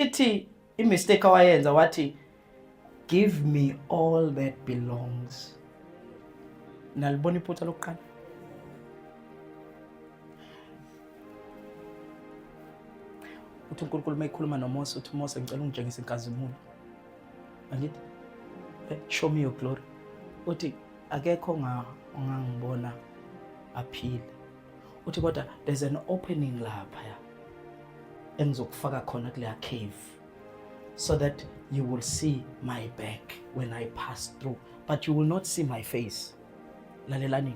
ithi imistake awayenza wathi give me all that belongs nalibona iphutha lokuqala uthi unkulunkulu uma ekhuluma nomose uthi mose ngicela ungitshengise inkazimulo angithi eh, show me your glory uthi akekho ongangibona aphile uthi kodwa there's an opening laphaya engizokufaka khona kuleya cave so that you will see my back when i pass through but you will not see my face lalelani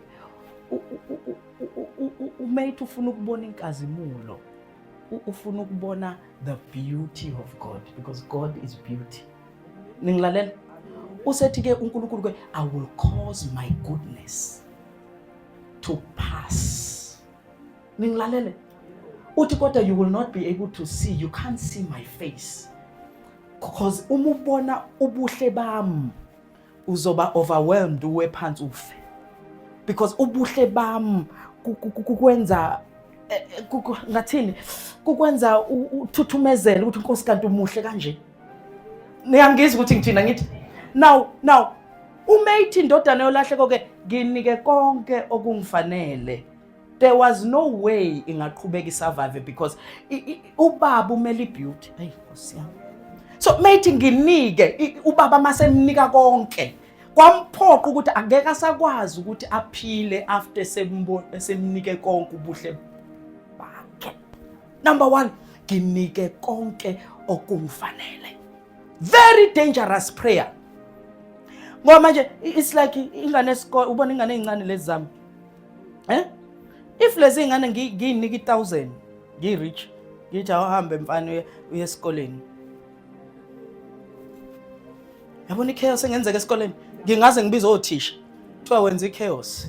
umate ufuna ukubona inkazimulo ufuna ukubona the beauty of god because god is beauty ningilalela usethi ke unkulunkulu ke i will cause my goodness to pass. Ningilalele. Uthi kodwa you will not be able to see, you can't see my face. Because uma ubona ubuhle bami uzoba overwhelmed uwe phansi ufe. Because ubuhle bami kukwenza eh, eh, ngathini kukwenza uthuthumezele ukuthi inkosi kanti umuhle kanje niyangizwa ukuthi ngithina ngithi now now uma ithi indodana yolahleko ke nginike konke okungifanele there was no way ingaqhubeka isurvive because ubaba umele ibeauty ayi nkosi yami so mayithi nginike ubaba masemnika konke kwamphoqa ukuthi angeke asakwazi ukuthi aphile after semnike konke ubuhle Number one, nginike konke okungifanele. Very dangerous prayer. Ngoba manje it's like ingane esikole ubona ingane ezincane lezi zami. Eh? If lezi ingane ngiyinika i1000, ngi rich, ngithi awuhambe mfana uye esikoleni. Yabona ichaos engenzeka esikoleni. Ngingaze ngibize othisha. Kuthiwa wenza ichaos.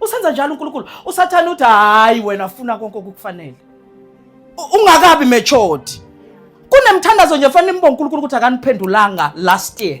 usenza njalo uNkulunkulu usathane uthi hayi wena funa konke okukufanele ungakabi matured kunemthandazo nje fanele imbo uNkulunkulu ukuthi akaniphendulanga last year